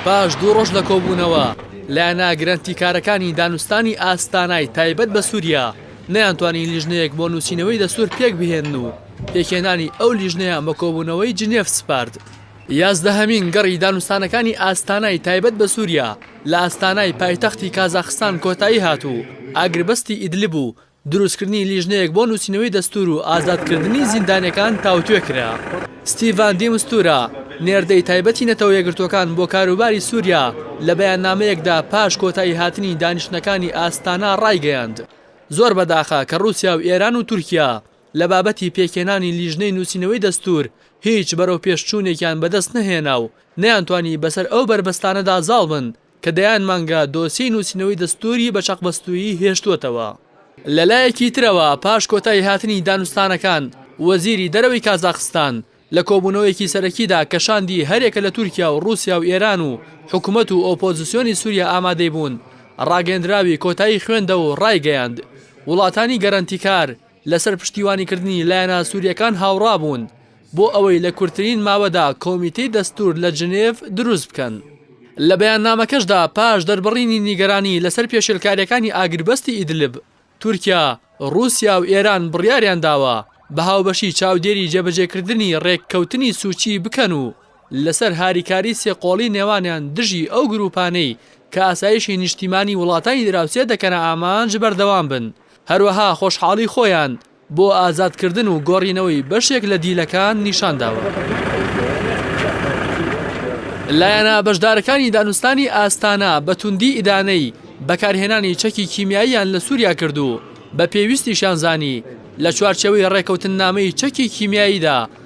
پاش دوو ڕۆژ لە کۆبوونەوە، لایەنە گرەنتیکارەکانی دانوستانی ئاستانای تایبەت بە سووریا نەیانتوانی لیژنەیەک بۆ نووسینەوەی دەستوور پێکبهێنن و پێکهێنانی ئەو لیژنەیان بە کۆبوونەوەی جنێف سپارد. یازدەهەمین گەڕی دانوستانەکانی ئاستانای تایبەت بە سووریا لە ئاستانای پایتەختی کازاخستان کۆتایی هات و ئاگربەستی ئیدلب و دروستکردنی لیژنەیەک بۆ نووسینەوەی دەستوور و ئازادکردنی زیندانیەکان تاوتوێ کرا. ستیڤان دی مستورا، نێردەی تایبەتی نەتەوە یەکگرتووەکان بۆ کاروباری سووریا لە بەیاننامەیەکدا پاش کۆتاییهاتنی دانیشتنەکانی ئاستانا ڕایگەیاند، زۆر بەداخە کە ڕووسیا و ئێران و تورکیا لە بابەتی پێکهێنانی لیژنەی نووسینەوەی دەستوور هیچ بەرەوپێشچوونێکیان بەدەستنەهێنا و نەیانتوانی بەسەر ئەو بەربەستانەدا زاڵ بن کە دەیان مانگە دۆسیەی نووسینەوەی دەستووری بە چەقبەستوویی هێشتووەتەوە. لەلایەکی ترەوە پاش کۆتاییهاتنی دانوستانەکان، وەزیری دەرەوەی کازاخستان لە کۆبوونەوەیەکی سەرەکیدا کە شاندی هەریەکە لە تورکیا و ڕووسیا و ئێران و حکومەت و ئۆپۆزسیۆنی سووریا ئامادەی بوون، ڕاگەیەندراوی کۆتایی خوێندە و ڕایگەیاند، وڵاتانی گەرەنتیکار لەسەر پشتیوانیکردنی لایەنە سوورییەکان هاوڕا بوون. بۆ ئەوەی لە کورتترین ماوەدا کۆمیتەی دەستوور لە جنێڤ دروست بکەن. لە بەیاننامەکەشدا پاش دەربڕینی نیگەرانی لەسەر پێشێلکارییەکانی ئاگربەستی ئیدلب، تورکیا، ڕووسیا و ئێران بڕیاریان داوە بە هاوبەشی چاودێری جێبەجێکردنی ڕێککەوتنی سوچی بکەن و لەسەر هاریکاری سێ قۆڵی نێوانیان دژی ئەو گرووپانەی کە ئاسایشی نیشتیمانی وڵاتانی دراوسێ دەکەنە ئامانج بەردەوام بن هەروەها خۆشحاڵی خۆیان بۆ ئازادکردن و گۆڕینەوەی بەشێک لە دیلەکان نیشان داوە. لایەنە بەشدارەکانی دانوستانی ئاستانا بە توندی ئیدانەی بەکارهێنانی چەکی کیمیاییان لە سووریا کرد و بە پێویستیشیان زانی لە چوارچێوەی ڕێکەوتننامەی چەکی کیمیاییدا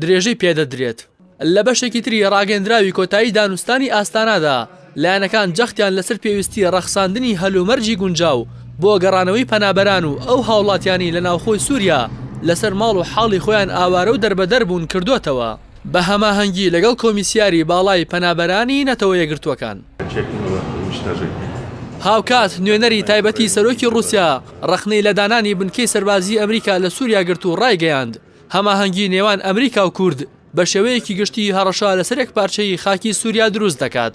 درێژەی پێدەدرێت. لە بەشێکی تری ڕاگەندراوی کۆتایی دانوستانی ئاستانادا، لایەنەکان جەختیان لەسەر پێویستی ڕەخساندنی هەلومەرجی گونجاو بۆ گەڕانەوەی پەنابەران و ئەو هاوڵاتیانەی لە ناوخۆی سوریا لەسەر ماڵ و حاڵی خۆیان ئاوارە و دەربەدەر بوون کردۆتەوە بە هەماهەنگی لەگەڵ کۆمیسیاری باڵای پەنابەرانی نەتەوە یەکگرتووەکان. هاوکات نوێنەری تایبەتی سەرۆکی ڕووسیا ڕەخنەی لە دانانی بنکەی سەربازی ئەمریکا لە سوریا گرت و ڕایگەیاند، هەماهەنگی نێوان ئەمریکا و کورد بە شێوەیەکی گشتی هەڕەشە لەسەر یەکپارچەیی خاکی سووریا دروست دەکات.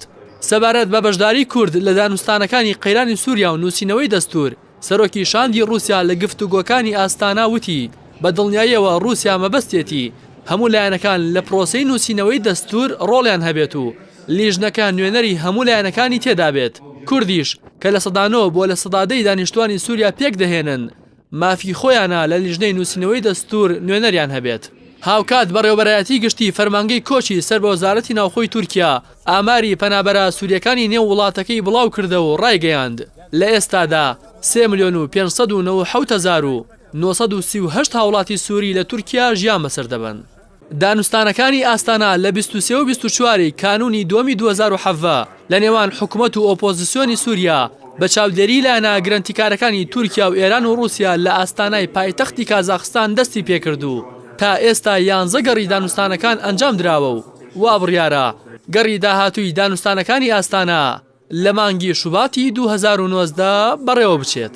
سەبارەت بە بەشداری کورد لە دانوستانەکانی قەیرانی سووریا و نووسینەوەی دەستوور، سەرۆکی شاندی ڕووسیا لە گفتوگۆکانی ئاستانا وتی، بە دڵنیاییەوە ڕووسیا مەبەستیەتی هەموو لایەنەکان لە پرۆسەی نووسینەوەی دەستوور ڕۆڵیان هەبێت و لیژنەکە نوێنەری هەموو لایەنەکانی تێدا بێت. کوردیش کە لە سەدا نۆ بۆ لە سەدا دەی دانیشتووانی سووریا پێکدەهێنن، مافی خۆیانە لە لیژنەی نووسینەوەی دەستوور نوێنەریان هەبێت. هاوکات بەڕێوەبەرایەتی گشتی فەرمانگەی کۆچی سەر بە وەزارەتی ناوخۆی تورکیا ئاماری پەنابەرە سورییەکانی نێو وڵاتەکەی بڵاوکردەوە و ڕایگەیاند، لە ئێستادا سێ ملیۆن و پێنج سەد و نەوە و حەوت هەزار و نۆ سەد و سی و هەشت هاوڵاتی سوری لە تورکیا ژیان بەسەر دەبەن. دانوستانەکانی ئاستانا لە بیست و سێ و بیست و چوار ی کانوونی دووەمی دوو هەزار و حەڤدە لە نێوان حکومەت و ئۆپۆزسیۆنی سووریا بە چاودێریی لایەنە گرەنتیکارەکانی تورکیا و ئێران و ڕووسیا لە ئاستانای پایتەختی کازاخستان دەستی پێ کرد و تا ئێستا یانزە گەڕی دانوستانەکان ئەنجام دراوە و وابڕیارە گەڕی داهاتووی دانوستانەکانی ئاستانا لە مانگی شوباتی دوو هەزار و نۆزدە بەڕێوەبچێت.